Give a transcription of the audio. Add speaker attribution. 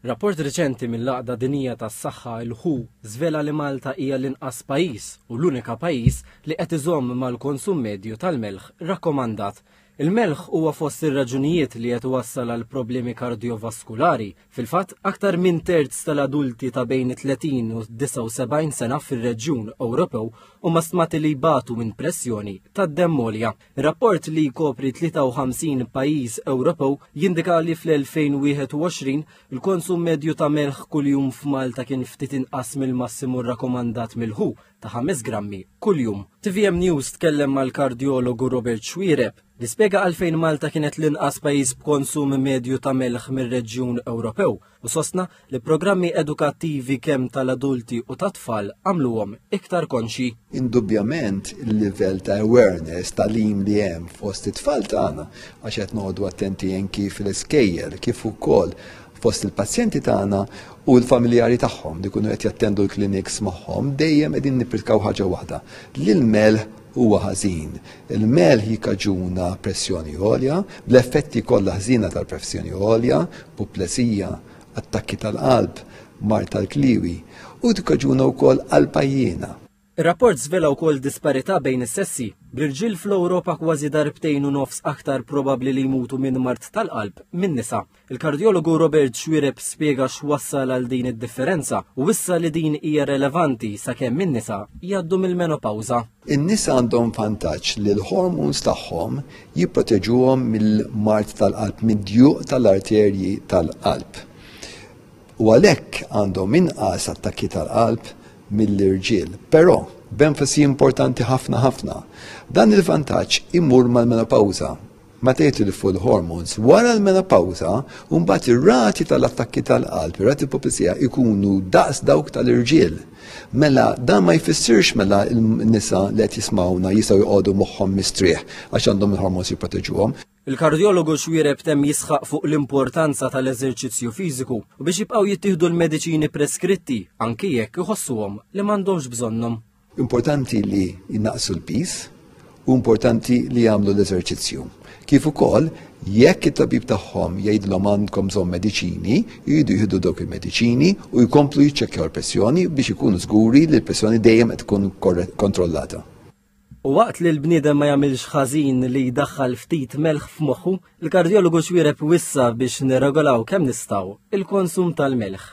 Speaker 1: Rapport reċenti mill-Għaqda Dinjija tas-Saħħa, il-who, żvela li Malta hija l-inqas pajjiż u l-unika pajjiż li qed iżomm mal-konsum medju tal-melħ rakkomandat. Il-melħ huwa fost ir-raġunijiet li qed iwassal għal problemi kardjovaskulari. Fil-fatt, aktar minn terz tal-adulti ta' bejn it-30 u d-79 sena fir-reġjun Ewropew huma stmati li jbatu minn pressjoni tad-demm għolja. Rapport li jkopri 53 pajjiż Ewropew jindika li fl-2021 il-konsum medju ta' melħ kuljum f'Malta kien ftit inqas mill-massimu rrakomandat mill-WHO ta' 5 grammi kuljum. TVM News tkellem mal-kardjologu Robert Xwiereb li spjega għalfejn Malta kienet l-inqas pajjiż b'konsum medju ta' melħ mir-reġjun Ewropew u sostna li programmi edukattivi kemm tal-adulti u tat-tfal għamluhom iktar konxji. Indubjament
Speaker 2: il-livell ta' awareness ta' lim li hemm fost it-tfal tagħna għax qed noqogħdu attenti anki fil-iskejjel kif ukoll fost il-pazjenti tagħna u l-familjari tagħhom li kunu qed jattendu l-kliniks magħhom dejjem qegħdin nippritkaw ħaġa waħda. L-ilmel huwa ħażin. Il-melħ jikkaġuna pressjoni għolja, bl-effetti kollha ħżiena tal-pressjoni għolja, puplesija, attakki tal-qalb, mard tal-kliewi, u tikkaġuna wkoll qalb għajjiena. Ir-rapport żvela
Speaker 1: wkoll disparità bejn is-sessi, bl-irġiel fl-Ewropa kważi darbtejn u nofs aktar probabbli li jmutu minn mard tal-qalb minn nisa. Il-kardjologu Robert Xuereb spjega x'wassal għal din id-differenza u wissa li din hija relevanti sakemm in-nisa jgħaddu mill-menopawża. In-nisa għandhom
Speaker 2: vantaġġ li l-hormones tagħhom jipproteġuhom mill-mard tal-qalb, mid-djuq tal-arterji tal-qalb. U għalhekk għandhom inqas attakki tal-qalb mill-irġiel. Però, b'enfasi importanti ħafna ħafna, dan il-vantaġġ imur mal-menopawża ma tgħid li fuq il-hormones wara l-menopawża u mbagħad ir-rati tal-attakki tal-qalb, ir-rati popizija ikunu daqs dawk tal-irġiel. Mela dan ma jfissirx mela n-nisa li qed jismawna jistgħu jqogħdu moħħhom mistrieħ għax għandhom il-hormones jipproteġuhom. Il-kardjologu
Speaker 1: xwiereb temm jisħaq fuq l-importanza tal-eżerċizzju fiżiku u biex jibqgħu jittieħdu l-mediċini preskritti anki jekk iħossuhom li m'għandhomx bżonnhom. Importanti li
Speaker 2: jnaqsu l-pis u importanti li jagħmlu l-eżerċizzju. Kif ukoll jekk it-tabib tagħhom jgħidlhom għandkom bżonn mediċini, jridu jieħdu dawk il-mediċini u jkomplu jiċċekkjaw il-pressjoni biex ikunu żguri li l-pressjoni dejjem qed tkun kontrollata. U
Speaker 1: waqt li l-bniedem ma jagħmilx ħażin li jdaħħal ftit melħ f'moħħu, il-kardjologu xwiereb wissa biex nirregolaw kemm nistgħu il-konsum tal-melħ.